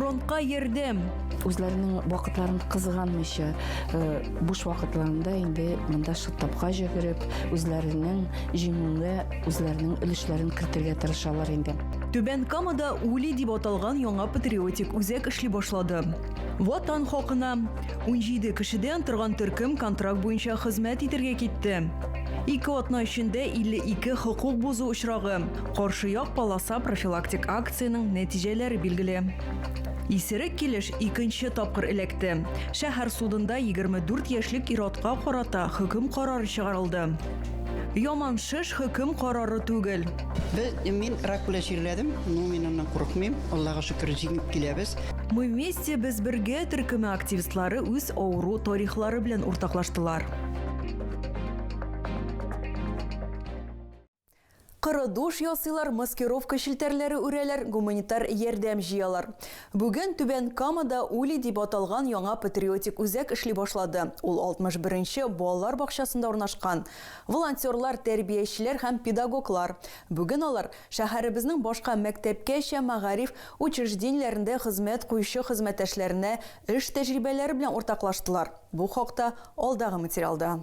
Фронтка йөрдем. Үзләренең вакытларын кызганмыйча, э, буш вакытларында инде монда шыттапка җөгереп, үзләренең җиңүгә үзләренең өлешләрен кертергә тырышалар инде. Түбән Камада Ули дип аталган яңа патриотик үзәк эшли башлады. Ватан хакына 17 кешедән торган төркем контракт буенча хезмәт итәргә китте. Ике атна эчендә 52 хокук бозу очрагы, Каршы як полоса профилактик акцияның нәтиҗәләре билгеле. Исерек килеш икенче тапкыр эләкте. Шәһәр судында 24 яшьлек иротка карата хөкем карары чыгарылды. Яман шеш хөкем карары түгел. Без, мин рак белән чирләдем, но мин аннан курыкмыйм. Аллага шөкер, җиңеп киләбез. Мы вместе без бергә төркеме активистлары үз авыру тарихлары белән уртаклаштылар. Коры душ ясыйлар, маскировка челтәрләре үрәләр, гуманитар ярдәм җыялар. Бүген Түбән Камада Ули дип аталган яңа патриотик үзәк эшли башлады. Ул 61 нче балалар бакчасында урнашкан. Волонтерлар, тәрбиячеләр һәм педагоглар. Бүген алар шәһәребезнең башка мәктәпкәчә мәгариф учреждениеләрендә хезмәт куючы хезмәттәшләренә эш тәҗрибәләре белән уртаклаштылар. Бу хакта алдагы материалда.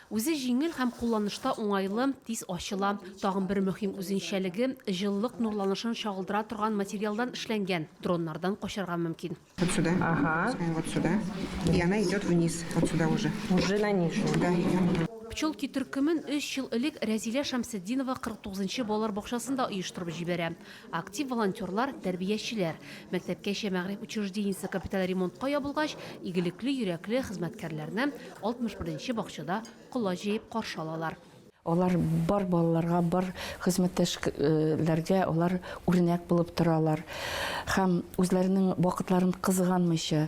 Үзе җиңел һәм кулланышта уңайлы, тиз ачыла. Тагын бер мөһим үзенчәлеге, җылылык нурланышын чагылдыра торган материалдан эшләнгән, дроннардан качарга мөмкин. Вот сюда. Ага. И вот сюда. И она идет вниз. Вот сюда уже. Уже на нижнюю. Да. Пчелки төркемен өч ел элек Рәзилә Шәмсетдинова 49 нчы балалар бакчасында оештырып җибәрә. Актив волонтерлар, тәрбиячеләр. Мәктәпкәчә мәгъриф учреждениесе капиталь ремонтка ябылгач, игелекле йөрәкле хезмәткәрләрне 61 нче бакчада колач җәеп каршы алалар. Алар бар балаларга, бар хезмәттәшләргә алар үрнәк булып торалар һәм үзләренең вакытларын кызганмыйча,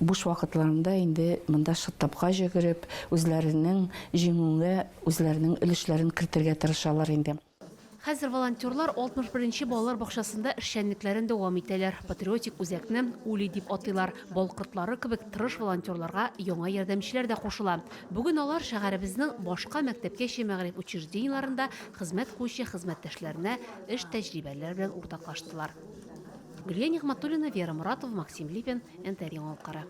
буш вакытларында инде монда шттабка җөгереп, үзләренең җиңүгә үзләренең өлешләрен кертергә тырышалар инде. Хәзер волонтерлар 61 нче балалар бакчасында эшчәнлекләрен дәвам итәләр. Патриотик үзәкне Ули дип атыйлар. Бал кортлары кебек тырыш волонтерларга яңа ярдәмчеләр дә кушыла. Бүген алар шәһәребезнең башка мәктәпкәчә мәгариф учреждениеләрендә хезмәт куючы хезмәттәшләренә эш тәҗрибәләре белән уртаклаштылар. Гөлия Нигъмәтуллина, Вера Моратова, Максим Липин, НТР Яңалыклары.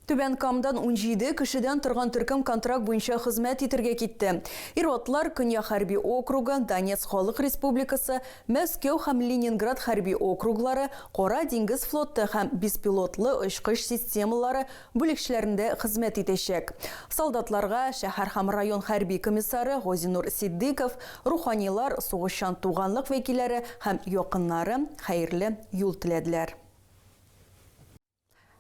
Түбән Камдан унҗиде кешедән торган төркем контракт буенча хезмәт итәргә китте. Ир-атлар Көньяк хәрби округы, Донецк Халык Республикасы, Мәскәү һәм Ленинград хәрби округлары, Кара диңгез флоты һәм беспилотлы очкыч системалары бүлекчәләрендә хезмәт итәчәк. Солдатларга шәһәр һәм район хәрби комиссары Газинур Ситдыйков, руханилар, сугышчан туганлык вәкилләре һәм якыннары хәерле юл теләделәр.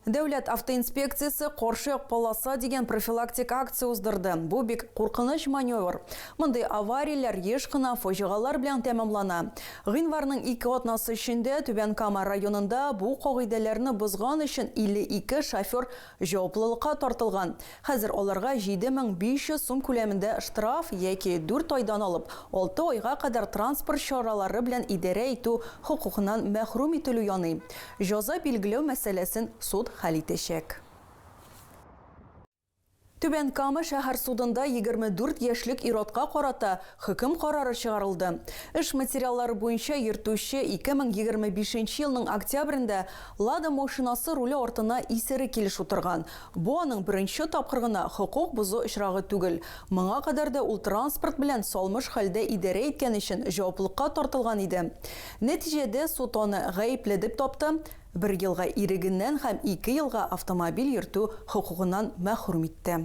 Дәүләт автоинспекциясе каршы полоса дигән профилактик акция уздырды. Бу бик куркыныч маневр. Мондый аварияләр еш кына фаҗигалар белән тәмамлана. Гыйнварның ике атнасы эчендә Түбән Кама районында бу кагыйдәләрне бозган өчен 52 шофер җаваплылыкка тартылган. Хәзер аларга 7500 сум күләмендә штраф яки дүрт айдан алып алты айга кадәр транспорт чаралары белән идарә итү хокукыннан мәхрүм ителү яный. Җаза билгеләү мәсьәләсен суд хәл итәчәк. Түбән Кама шәһәр судында 24 яшьлек ир-атка карата хөкем карары чыгарылды. Эш материаллары буенча йөртүче 2025 елның октябрендә Лада машинасы руле артына исерек килеш утырган, Бу аның беренче тапкыр гына хокук бозу очрагы түгел. Моңа кадәр дә ул транспорт белән салмыш хәлдә идарә иткән өчен җаваплылыкка тартылган иде. Нәтиҗәдә суд аны гаепле дип тапты, бер елга ирегеннән һәм ике елга автомобиль йөртү хокукыннан мәхрүм итте.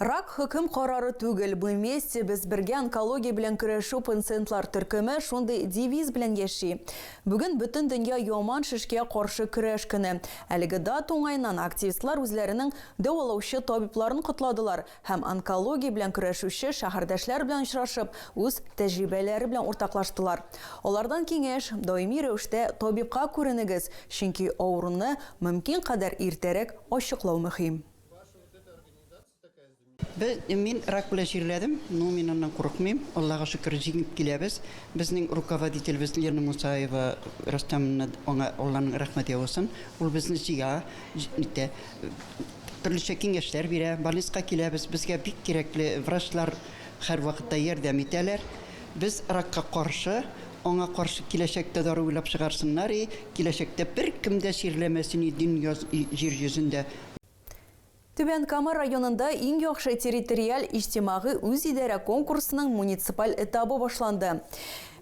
Рак хөкем карары түгел, мы вместе, без бергә онкология белән көрәшү пнциентлар төркеме шундый девиз белән яши. Бүген бөтен дөнья яман шешкә каршы көрәш көне. Әлеге дата уңаеннан активистлар үзләренең дәвалаучы табибларын котладылар һәм онкология белән көрәшүче шәһәрдәшләр белән очрашып, үз тәҗрибәләре белән уртаклаштылар. Алардан киңәш, даими рәвештә табибка күренегез, чөнки авыруны мөмкин кадәр иртәрәк ачыклау мөһим. Мин рак белән чирләдем, но мин аннан курыкмыйм. Аллага шөкер, җиңеп киләбез. Безнең руководителебез Лена Мусаева Рөстәмовна, аңа Алланың рәхмәте яусын. Ул безне җыя, итә. Төрлечә киңәшләр бирә. Больницага киләбез, безгә бик кирәкле врачлар һәрвакытта ярдәм итәләр. Без ракка каршы, аңа каршы киләчәктә дару уйлап чыгарсыннар и киләчәктә беркем дә чирләмәсен и дөнья, җир йөзендә. Түбән Кама районында Иң яхшы территориаль-иҗтимагый үзидарә конкурсының муниципаль этабы башланды.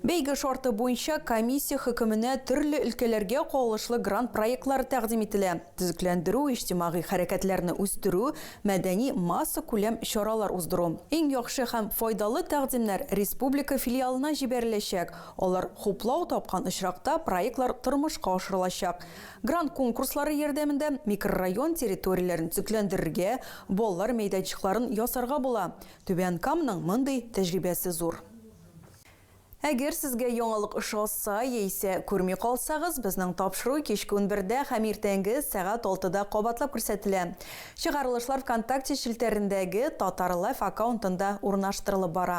Бәйге шарты буенча комиссия хөкеменә төрле өлкәләргә кагылышлы грант проектлары тәкъдим ителә, төзекләндерү, иҗтимагый хәрәкәтләрне үстерү, мәдәни, массакүләм чаралар уздыру. Иң яхшы һәм файдалы тәкъдимнәр республика филиалына җибәреләчәк, алар хуплау тапкан очракта проектлар тормышка ашырылачак. Грант конкурслары ярдәмендә микрорайон территорияләрен төзекләндерергә, балалар мәйданчыкларын ясарга була. Түбән Каманың мондый тәҗрибәсе зур. Әгәр сезгә яңалык ошаса яисә күрми калсагыз, безнең тапшыру кичке унбердә һәм иртәнге сәгать алтыда кабатлап күрсәтелә. Чыгарылышлар ВКонтакте челтәрендәге Татарлайф аккаунтында урнаштырылып бара.